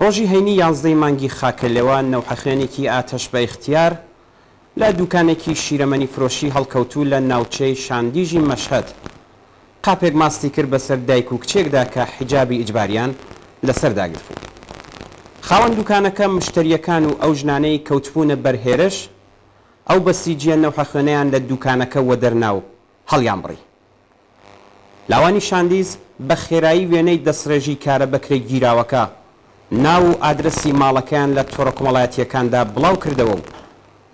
ڕۆژی هەینی یازدەی مانگی خاکە لێوە نەوحەخوێنێکی ئاتەش بە ئیختیار لە دووکانێکی شیرەمەنی فرۆشی هەڵکەوتوو لە ناوچەی شاندیژی مەشهەد قاپێک ماستی کرد بەسەر دایک و کچێکدا کە حیجابی ئیجباریان لەسەر داگرتبوو. خاوەن دووکانەکە، مشتەرییەکان و ئەو ژنانەی کەوتبوونە بەر هێرش، ئەو بەسیجییە نەوحەخوێنەیان لە دووکانەکە وەدەرنا و هەڵیانبڕی. لاوانی شاندیز بە خێرایی وێنەی دەستڕێژی کارە بەکرێگیراوەکە، ناو و ئادرەسی ماڵەکەیان لە تۆڕەکۆمەڵایەتییەکاندا بڵاوکردەوە و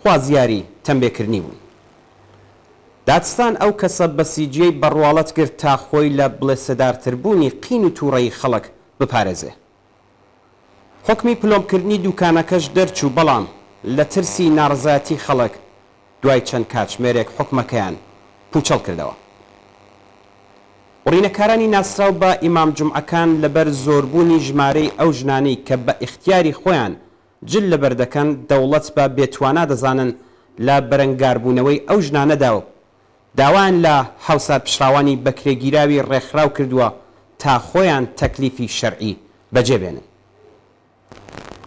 خوازیاری تەمبێکردنی بوون. دادستان ئەو کەسە بەسیجییەی بە ڕواڵەت گرت تا خۆی لە بڵێسەدارتربوونی قین و تووڕەیی خەڵک بپارێزێ. حوکمی پلۆمکردنی دوکانەکەش دەرچوو، بەڵام لە ترسی ناڕەزایەتی خەڵک دوای چەند کاتژمێرێک حوکمەکەیان پوچەڵ کردەوە. بڕینەکارانی ناسراو بە ئیمام جومعەکان لەبەر زۆربوونی ژمارەی ئەو ژنانەی کە بە ئیختیاری خۆیان جل لەبەر دەکەن، دەوڵەت بە بێتوانا دەزانن لە بەرەنگاربوونەوەی ئەو ژنانەدا و، داوایان لە هاوسار پچڕاوانی بەکرێگیراوی ڕێکخراو کردووە تا خۆیان تەکلیفی شەرعی بەجێ بێنن.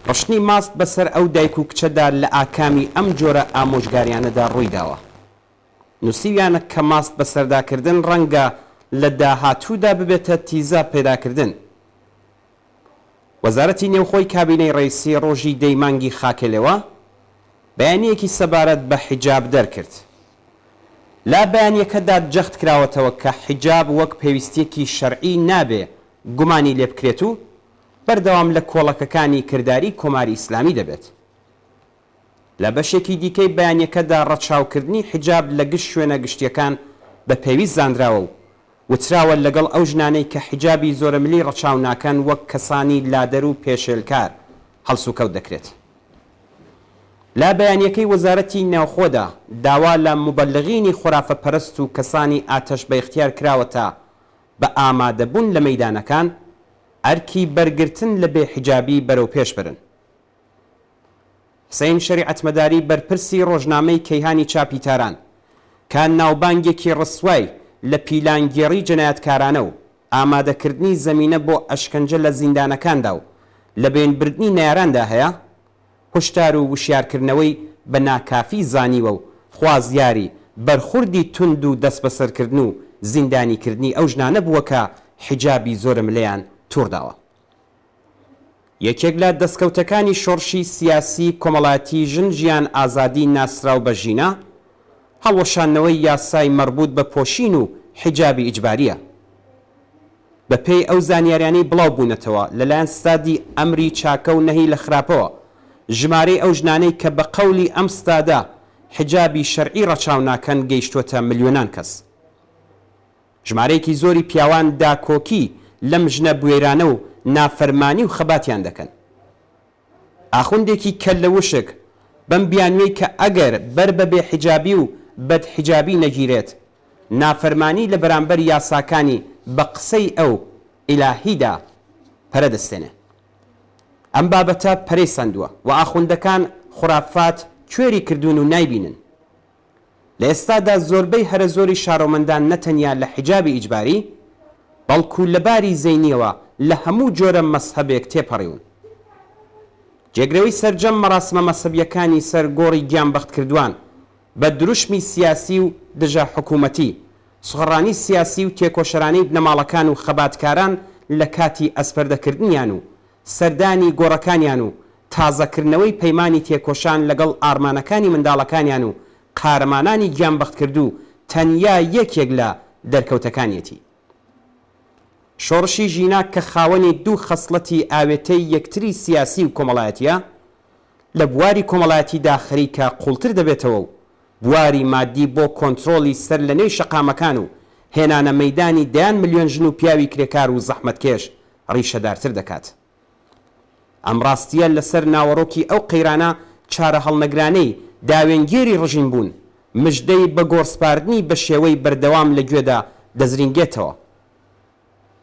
ڕشتنی ماست بەسەر ئەو دایک و کچەدا لە ئاکامی ئەم جۆرە ئامۆژگاریانەدا ڕوویداوە. نووسیویانە کە ماست بەسەردا کردن ڕەنگە لە داهاتوودا ببێتە تیزە پەیداکردن. وەزارەتی نێوخۆی کابینەی ڕەیسی ڕۆژی دەی مانگی خاکەلێوە بەیانییەکی سەبارەت بە حیجاب دەرکرد. لە بەیانییەکەدا جەخت کراوەتەوە کە حیجاب وەک پێویستییەکی شەرعی نابێ گومانی لێبکرێت و بەردەوام لە کۆڵەکەکانی کرداری کۆماری ئیسلامی دەبێت. لە بەشێکی دیکەی بەیانەکەدا ڕەچاوکردنی حیجاب لە گشت شوێنە گشتییەکان بە پێویست زانراوە و وتراوە لەگەڵ ئەو ژنانەی کە حیجابی زۆرەملی ڕەچاو ناکەن وەک کەسانی لادەر و پێشێلکار هەڵسوکەوت دەکرێت. لە بەیانەکەی وەزارەتی ناوخۆدا داوا لە موبەلغینی خورافە پەرست و کەسانی ئاتەش بەئیختیار کراوەتە بە ئامادەبوون لە مەیدانەکان ئەرکی بەرگرتن لە بێ حیجابی بەرەوپێش برن. حسەین شەریعەتمەداری بەرپرسی ڕۆژنامەی کەیهانی چاپی تاران، کە ناوبانگێکی ڕسوای لە پیلانگێڕی جەنایەتکارانە و ئامادەکردنی زەمینە بۆ ئەشکەنجە لە زیندانەکاندا و لەبەین بردنی نەیاراندا هەیە، هوشدار و وشیارکردنەوەی بە ناکافی زانیوە و خوازیاری بەرخوردی توند و دەسبەسەرکردن و زیندانیکردنی ئەو ژنانە بووە کە حیجابی زۆرەملێیان تووڕداوە. یەکێک لە دەستکەوتەکانی شۆڕشی سیاسی کۆمەڵایەتی ژن ژیان ئازادی ناسراو بە ژینا، هەڵوەشاندنەوەی یاسای مەڕبووت بە پۆشین و حیجابی ئیجبارییە. بە پێی ئەو زانیاریانەی بڵاو بوونەتەوە لە لایەن ستادی ئەمری چاکە و نەهی لە خراپەوە، ژمارەی ئەو ژنانەی کە بە قەولی ئەم ستادە حیجابی شەرعی ڕەچاو ناکەن گەیشتووەتە ملیۆنان کەس. ژمارەیەکی زۆری پیاوان داکۆکی لەم ژنە بوێرانە و نافەرمانی و خەباتیان دەکەن. ئاخوندێکی کەللە وشک بەم بیانوێی کە ئەگەر بەر بە بێ حیجابی و بەد حیجابی نەگیرێت نافەرمانی لە بەرامبەر یاساکانی بە قسەی ئەو، ئیلاهی، دا پەرە دەستێنێ. ئەم بابەتە پەرەی سەندوە و ئاخوندەکان خورافات کوێری کردوون و نایبینن. لە ئێستادا زۆربەی هەرە زۆری شارۆمەندان نە تەنیا لە حیجابی ئیجباری، بەڵکو لە باری زەینیەوە لە هەموو جۆرە مەزهەبێک تێپەڕیون. جێگرەوەی سەرجەم مەراسمە مەزهەبیەکانی سەر گۆڕی گیانبەختکردوان بە دروشمی سیاسی و دژە حکوومەتی، سغڕانی سیاسی و تێکۆشەرانەی بنەماڵەکان و خەباتکاران لە کاتی ئەسپەردەکردنیان و سەردانی گۆڕەکانیان و تازەکردنەوەی پەیمانی تێکۆشان لەگەڵ ئارمانەکانی منداڵەکانیان و قارەمانانی گیانبەختکردوو تەنیا یەکێک لە دەرکەوتەکانیەتی شۆڕشی ژینا کە خاوەنی دوو خەسڵەتی ئاوێتەی یەکتری سیاسی و کۆمەڵایەتیە، لە بواری کۆمەڵایەتیدا خەریکە قوڵتر دەبێتەوە و بواری مادی بۆ کۆنترۆڵی سەر لەنێوی شەقامەکان و هێنانە مەیدانی دەیان ملیۆن ژن و پیاوی کرێکار و زەحمەتکێش ڕیشەدارتر دەکات. ئەم ڕاستییە لەسەر ناوەڕۆکی ئەو قەیرانە چارەهەڵنەگرانەی داوێنگێری ڕژیم بوون، مژدەی بە گۆڕسپاردنی بە شێوەی بەردەوام لە گوێدا دەزرینگێتەوە.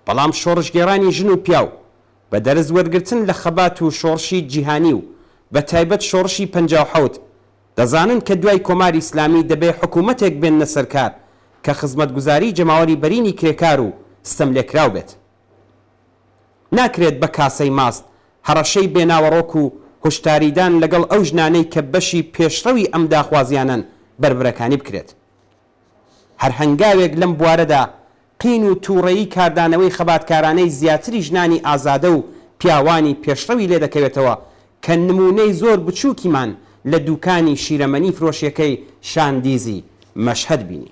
بەڵام شۆڕشگێڕانی ژن و پیاو، بە دەرس وەرگرتن لە خەبات و شۆڕشی جیهانی و بە تایبەت شۆڕشی پەنجا و حەوت، دەزانن کە دوای کۆماری ئیسلامی دەبێ حکوومەتێک بێننە سەرکار کە خزمەتگوزاری جەماوەری بەرینی کرێکار و ستەملێکراو بێت. ناکرێت بە کاسەی ماست هەڕەشەی بێ ناوەڕۆک و هوشداریدان لەگەڵ ئەو ژنانەی کە بەشی پێشڕەوی ئەم داخوازیانەن بەربرەکانی بکرێت. هەر هەنگاوێک لەم بوارەدا قین و توڕەیی کاردانەوەی خەباتکارانەی زیاتری ژنانی ئازادە و پیاوانی پێشڕەوی لێ دەکەوێتەوە کە نموونەی زۆر بچووکیمان لە دووکانی شیرەمەنی فرۆشیەکەی شاندیزی مەشهەد بینی.